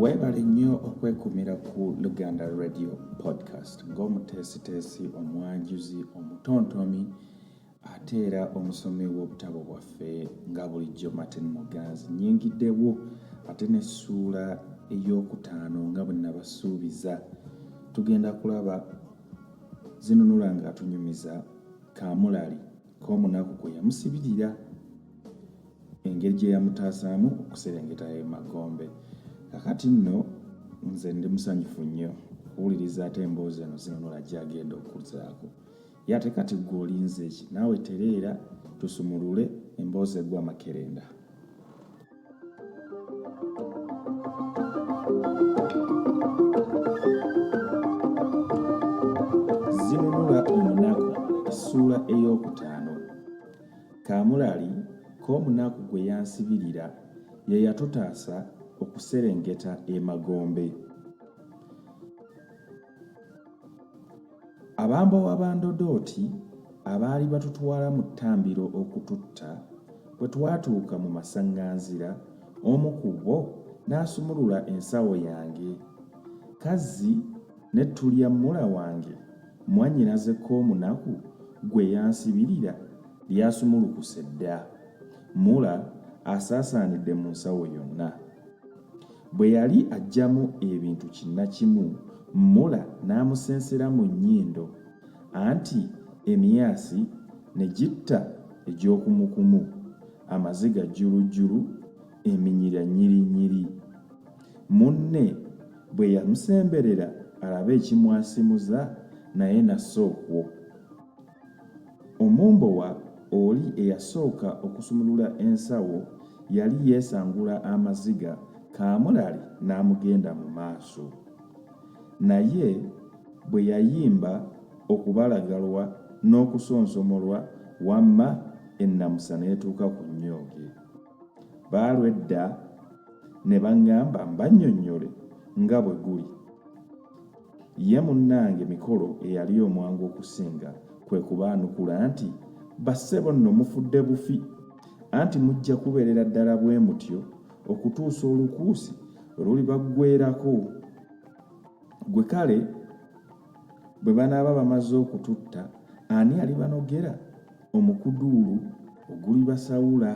weebale nnyo okwekumira ku luganda radio podcast ng'omuteesiteesi omwanjuzi omutontomi ate era omusomi w'obutabo bwaffe nga bulijjo martin muganzi nyingiddewo ate n'essuula ey'okutaano nga bwe nabasuubiza tugenda kulaba zinunula ng'atunyumiza kaamulali k'omunaku kwe yamusibirira engeri gye yamutaasaamu okuserengeta e magombe kakati nno nze ndi musanyufu nnyo okuwuliriza ate emboozi eno zinunula gyagenda okuzaako ye ate kati gwe olinzeeki naawe tereera tusumulule emboozi egwa makerenda zinunula omunaku essuula ey'okutaano kaamulali k'omunaku gwe yansibirira ye yatutaasa okuserengeta emagombe Abambowa ba Ndodooti abaali batutwala mu ttambiro okututta, bwe twatuuka mu masaŋŋanzira, omu ku bo n'asumulula ensawo yange. Kazzi ne Tulyammula wange, mwannyinaze Koomunaku gwe yansibirira, lyasumulukuse dda. Mula asaasaanidde mu nsawo yonna. Bwe yali aggyamu ebintu kinnakimu, Muller n'amusensera mu nnyindo anti emyasi ne gitta egy'okumukumu, amaziga jjulujjulu, eminyira nnyirinyiri. Munne bwe yamusemberera alabe ekimwasimuza naye n'assa okwo. Omumbowa oli eyasooka okusumulula ensawo yali yeesangula amaziga kaamulali n'amugenda mu maaso. Naye bwe yayimba okubalagalwa n'okusonsomolwa wamma ennamusa n'etuuka ku nnyooge. Baalwedda ne bangamba mbannyonnyole nga bwe guli. Ye munnange Mikolo eyali omwangu okusinga kwe kubaanukula nti, Bassebo nno mufudde bufi! Anti mujja kubeerera ddala bwe mutyo okutuusa olukuusi lwe lulibaggweerako. Ggwe kale bwe banaaba bamaze okututta, ani alibanogera omukuduulu ogulibasawula?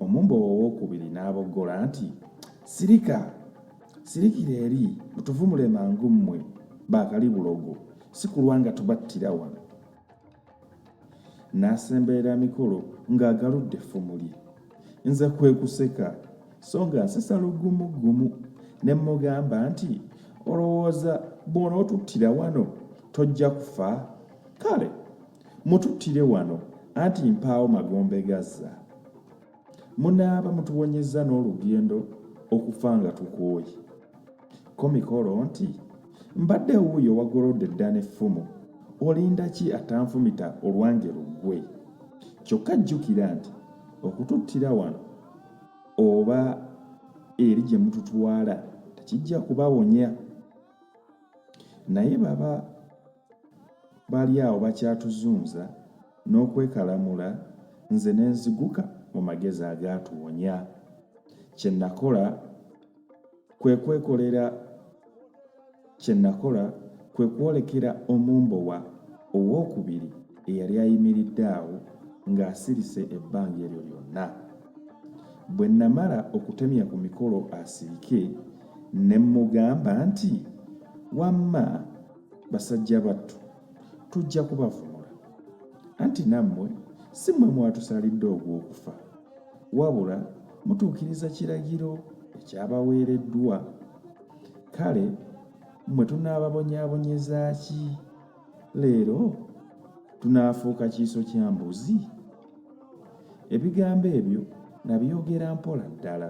Omumbowa owookubiri n'aboggola nti, Sirika! Sirikira eri mutuvumule mangu mmwe baakali bulogo si kulwa nga tubattira wano. N'asemberera mikolo ng'agaludde effumu lye. Nze kwe kuseka so nga nsesa lugumuggumu ne mmugamba nti olowooza bw'onootuttira wano tojja kufa kale mututtire wano anti mpaawo magombe gazza. Munaaba mutuwonyezza n'olugendo okufa nga tukooye. Ko mikolo nti, Mbadde wuuyo wagolodde dda n'effumu, olinda ki atanfumita olwange luggwe? Kyokka jjukira nti okututtira wano oba eri gye mututwala tekijja kubawonya. Naye baba Bali awo bakyatuzunza n'okwekalamula nze ne nziguka mu magezi agaatuwonya. Kye nnakola kwe kwekolera kye nnakola kwe kwolekera omumbowa ow'okubiri eyali ayimiridde awo ng'asirise ebbanga eryo lyonna. Bwe nnamala okutemya ku mikolo asirike, ne mmugamba nti, Wamma! basajja battu tujja kubavumula anti nammwe si mmwe mwatusalidde ogw'okufa wabula mutuukiriza kiragiro ekyabaweereddwa kale mmwe tunaababonyaabonyeza ki leero tunaafuuka kiiso kya mbuzi ebigambo ebyo nabyogera mpola ddala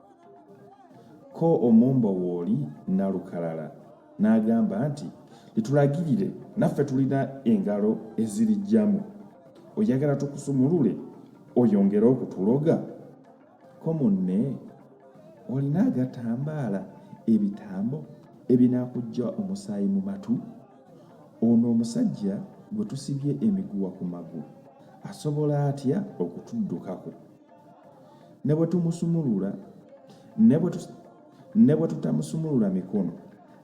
Ko omumbo wooli Nalukalala n'agamba nti, Litulagirire naffe tulina engalo ezirijjamu. Oyagala tukusumulule oyongere okutuloga? Ko munne, Olina agatambaala, ebitambo ebinaakujja omusaayi mu matu? Ono omusajja gwe tusibye emiguwa ku magulu asobola atya okutuddukako? ne bwe tumusumulula ne bwe tutamusumulula mikono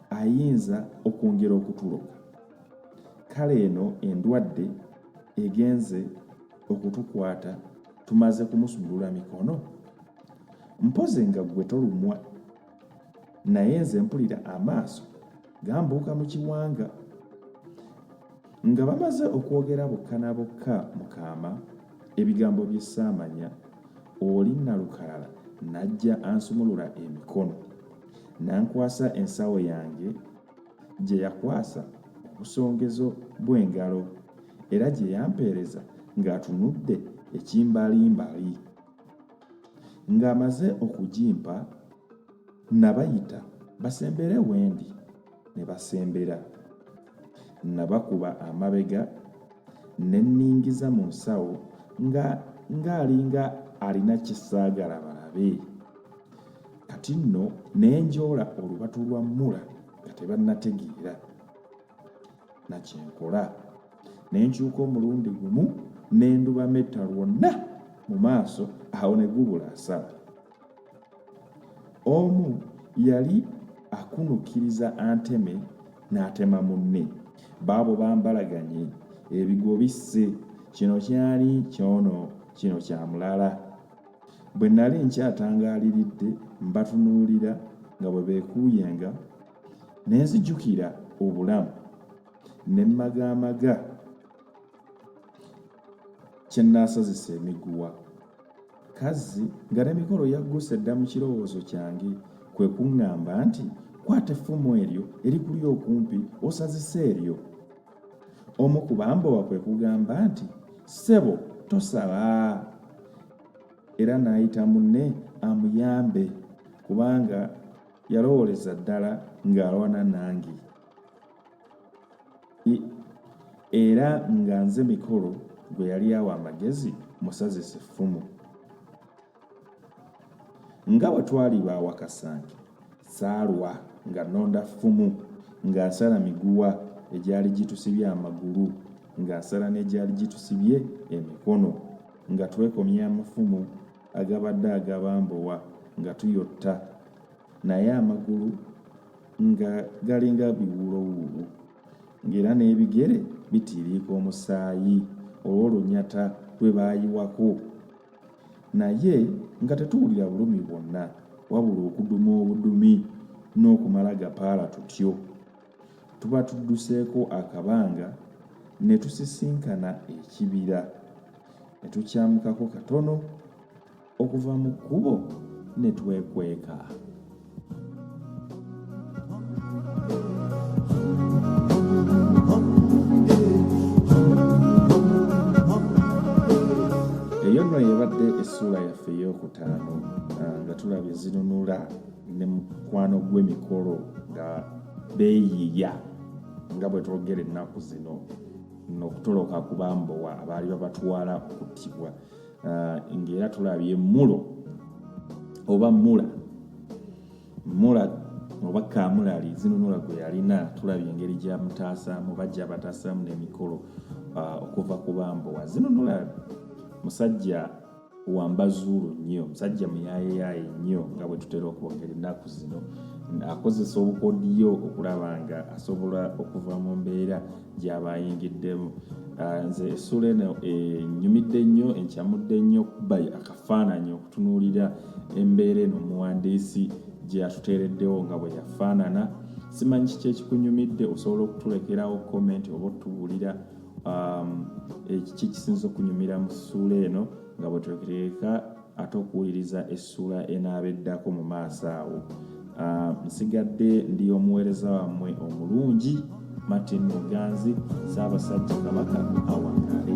ayinza okwongera okutuloka kale eno endwadde egenze okutukwata tumaze kumusumulula mikono mpoze nga gwe tolumwa naye nze mpulira amaaso gambuuka mu kiwanga nga bamaze okwogera bokka na bokka mukaama ebigambo by'essaamanya oli nalukalala n'ajja ansumulula emikono n'ankwasa ensawo yange gye yakwasa obusongezo bw'engalo era gye yampeereza ng'atunudde ekimbalimbaali Ng'amaze okugimpa, nnabayita basembere wendi ne basembera. Nnabakuba amabega ne nningiza mu nsawo nga ng'alinga alina kye saagala balabe. Kati nno ne njoola olubatu lwa Mula nga tebannategeera. nakyenkola ne nkyuka omulundi gumu ne ndubametta lwonna mu maaso awo ne gubula asala omu yali akunukiriza anteme n'atema munne baabo bambalaganye ebigo bisse kino kyali kyono kino kya mulala bwe nali nkyatangaaliridde mbatunuulira nga bwe beekuuyenga ne nzijukira obulamu ne mmagaamaga kye nnaasazisa emiguwa kazzi nga n'emikolo yagguse dda mu kirowoozo kyange kwe kuŋŋamba nti kwata effumu eryo erikuli okumpi osazise eryo omu ku bambowa kwe kugamba nti ssebo tosaba era n'ayita munne amuyambe kubanga yalowooleza ddala ng'alwana nange era nga nze mikolo gwe yali awa amagezi musazise effumu nga bwe twali baawakasange saalwa nga nnonda ffumu nga nsala miguwa egyali gitusibye amagulu nga nsala n'egyali gitusibye emikono nga twekomya amafumu agabadde agabambowa nga tuyotta naye amagulu nga galinga biwuulowuulo ng'era n'ebigere bitiiriika omusaayi olw'olunyata lwe baayiwako naye nga tetuwulira bulumi bwonna wabula okuduma obudumi n'okumala gapaala tutyo Tuba tudduseeko akabanga ne tusisinkana ekibira, ne tukyamukako katono okuva mu kkubo ne twekweka. Eyo nno y'ebadde essuula yaffe ey'okutaano ah, nga tulaba ezinunula ne mukwano gw'emikolo nga beeyiiya nga bwe twogera ennaku zino n'okutoloka ku bambowa abaali babatwala okuttibwa ah, ng'era tulabye mulo oba mula mula oba kamulali zinunula gwe yalina tulabye engeri gyamutaasaamu oba gyabataasaamu n'emikolo ah, okuva ku bambowa zinunula musajja wambazuulu nnyo musajja muyayeyaye nnyo nga bwe tutera okwogera ennaku zino akozesa obukodiyo okulaba nga asobola okuva mu mbeera gyaba ayingiddemu ah, nze essuula eno enyumidde nnyo encamudde nnyo okuba akafaananyi okutunuulira embeera eno omuwandiisi gye yatuteereddewo nga bwe yafaanana simanyi kiki ekikunyumidde osobola okutulekerawo komenti oba otubuulira um, ekiki kisinza okunyumira mu ssuula eno nga bwetulekereka ate okuwuliriza essuula enaaba eddako mu maaso awo um, nsigadde ndi omuweereza wammwe omulungi martin muganzi saabasajja kabaka awangale